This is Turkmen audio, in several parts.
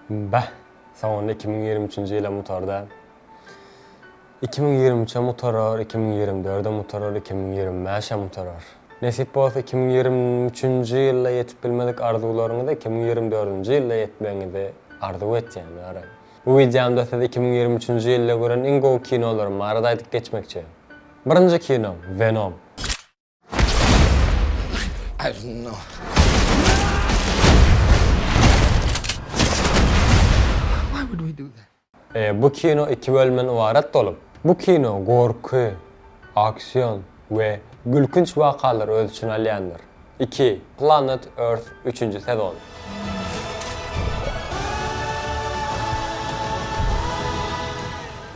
Bah! Soňunda iki müň ýigrimi üçünji ýylam utar-da. Iki müň ýigrimi üçem utarar, iki müň ýigrimi dördem utarar, iki müň ýigrimi bäşem utarar. Nesip bolsa iki müň ýigrimi üçünji ýylda ýetip bilmedik arzuwlaryňyza iki müň ýigrimi dördünji ýylda ýetmegiňizi arzuw etýän ara. Bu wideomda siz iki müň ýigrimi üçünji ýylda gören iň gowy kinolarym barada aýdyp geçmekçi. Birinji kinom, Venom. Bu kino iki bölümden ybarat bolup, bu kino gorky, aksion we gülkünç wakalary öz içine alýandyr. Iki, Planet Earth üçünji sezon.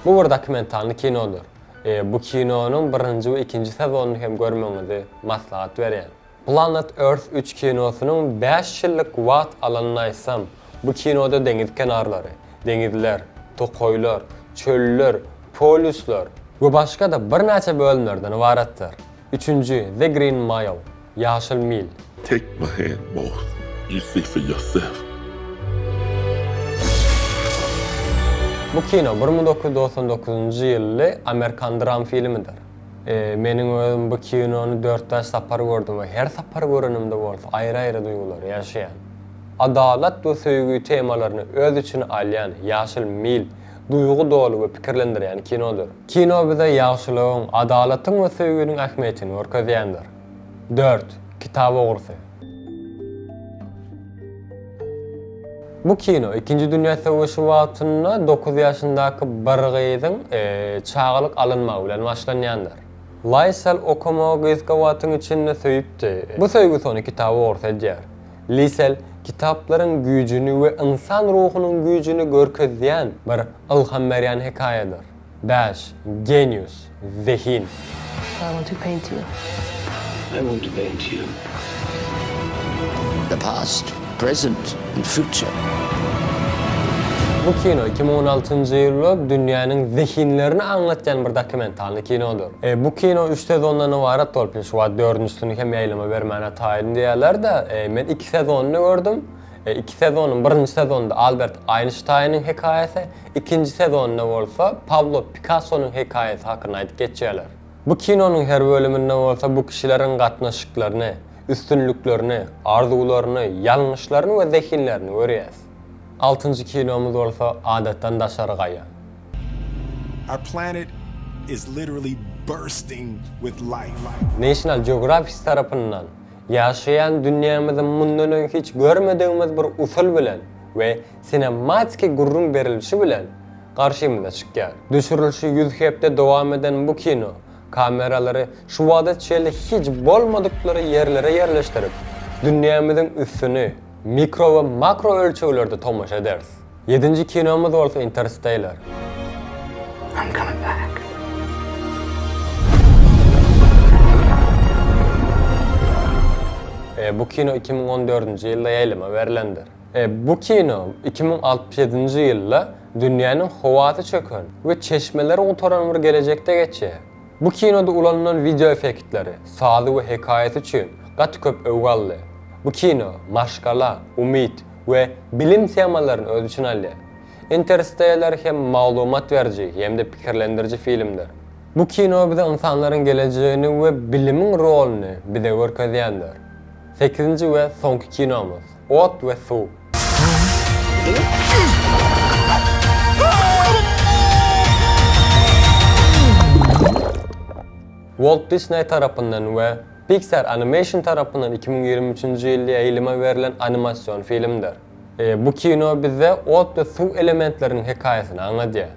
Bu bir dokumentalny kinodyr. Bu kinonyň birinji we ikinji sezonyny hem görmegiňizi maslahat berýän. Planet Earth üç kinosynyň bäş ýyllyk wagt alanyny aýtsam, bu kinoda deňiz kenarlary, deňizler, tokaýlar, çöller, polýuslar we başga-da birnäçe bölümlerden ybaratdyr. Üçünji, The Green Mile, Ýaşyl mil. Take my hand Mort, you see for yourself. Bu kino bir müň dokuz ýüz dogsan dokuzynjy ýylly amerikan dram filmidir. Meniň özüm bu kinony dört-bäş sapar gördüm we her sapar görenimde bolsa aýry-aýry duýgulary ýaşaýan. Adalat we söýgi temalaryny öz içine alýan Ýaşyl mil duýgy doly we pikirlendirýän kinodyr. Kino bize ýagşylygyň, adalatyň we söýginiň ähmiýetini görkezýändir. Dört, kitap ogrusy. Bu kino ikinji dünýä söweşi wagtynda dokuz ýaşyndaky bir gyzyň çagalyk alynmagy bilen başlanýandyr. Laýsel okamagy gysga wagtyň içinde söýüpdi. Bu söýgüsi ony kitap ogrusy edýär. Lisel kitaplaryň güýjüni we ynsan ruhunyň güýjüni görkezýän bir ylham berýän hekaýadyr. Bäş, genius, zehin. I want to paint you. I want to paint you. The past, present and future. Bu kino iki müň on altynjy ýylda dünýäniň zehinlerini aňlatýan bir dokumentalny kinodyr. Bu kino üç sezondan ybarat bolup, indi şu wagt dördünjisini hem ýaýlyma bermäne taýyn diýýärler-de, men iki sezonyny gördüm. Iki sezonyň birinji sezonynda Albert Aýnştaýnyň hekaýasy, Ikinji sezonynda bolsa Pablo Pikassonyň hekaýasy hakynda aýdyp geçýärler. Bu kinonyň her bölüminde bolsa bu kişileriň gatnaşyklaryny, üstünliklerini, arzuwlaryny, ýalňyşlaryny we zehinlerini görýäs. Altynjy kinomyz bolsa Adatdan daşary gaýa. Our planet is literally bursting with life. National Geographic tarapyndan ýaşaýan dünýämizi mundan öň hiç görmedigimiz bir usul bilen we sinematiki gürrüň berilişi bilen garşymyza çykýar. Düşürilişi ýüz hepde dowam eden bu kino kameralary şu wagta çenli hiç bolmadyklary ýerlere ýerleşdirip, dünýämiziň üstüni mikro we makro ölçeglerde tomaşa ederis. Ýedinji kinomyz bolsa Interstellar. I'm coming back. Bu kino iki müň on dördünji ýylda ýaýlyma berlendir. Bu kino iki müň altmyş ýedinji ýylda dünýäniň howasy çöken we çeşmeleri gutaran bir gelejekde geçýär. Bu kinoda ulanylan wideoeffektleri, sazy we hekaýasy üçin gaty köp öwgi aldy. Bu kino maşgala, umyt we bilim temalaryny öz içine alýar. Interstellar hem maglumat beriji hem-de pikirlendiriji filmdir. Bu kino bize ynsanlaryň gelejegini we bilimiň roluny bize görkezýändir. Sekizinji we soňky kinomyz. Ot we suw. Walt Disney tarapyndan we Pixar Animation tarapyndan iki müň ýigrimi üçünji ýylda ýaýlyma berlen animasion filmdir. Bu kino bize ot we suw elementleriniň hekaýasyny aňladýar.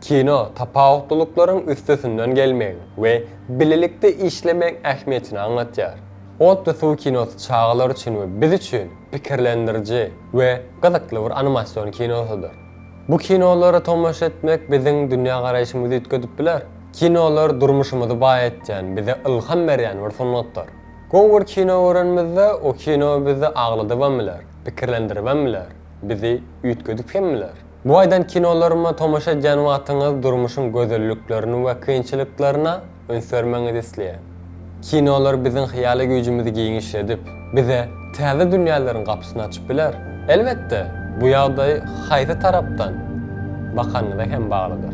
Kino tapawutlylyklaryň üstesinden gelmegiň we bilelikde işlemegiň ähmiýetini aňlatýar. Otly suw kinosy çagalar üçin we biz üçin pikirlendiriji we gyzykly bir animasion kinosydyr. Bu kinolara tomaşa etmek biziň dünýägaraýşymyzy üýtgedip biler. Kinolar durmuşymyzy baýatýan, bize ylham berýän bir sungatdyr. Gowy bir kino görenimizde, o kino bizi agladybam biler, pikirlendiribem biler, bizi üýtgedip hem biler. Bu aýdan kinolaryma tomaşa edýän wagtyňyz durmuşyň gözelliklerini we kynçylyklaryna Üns bermegiňizi isleýän kinolar biziň hyýaly güýjümizi giňişledip, bize täze dünýäleriň gapysyny açyp biler. Elbetde, bu ýagdaý haýsy tarapdan bakanyňyza hem baglydyr.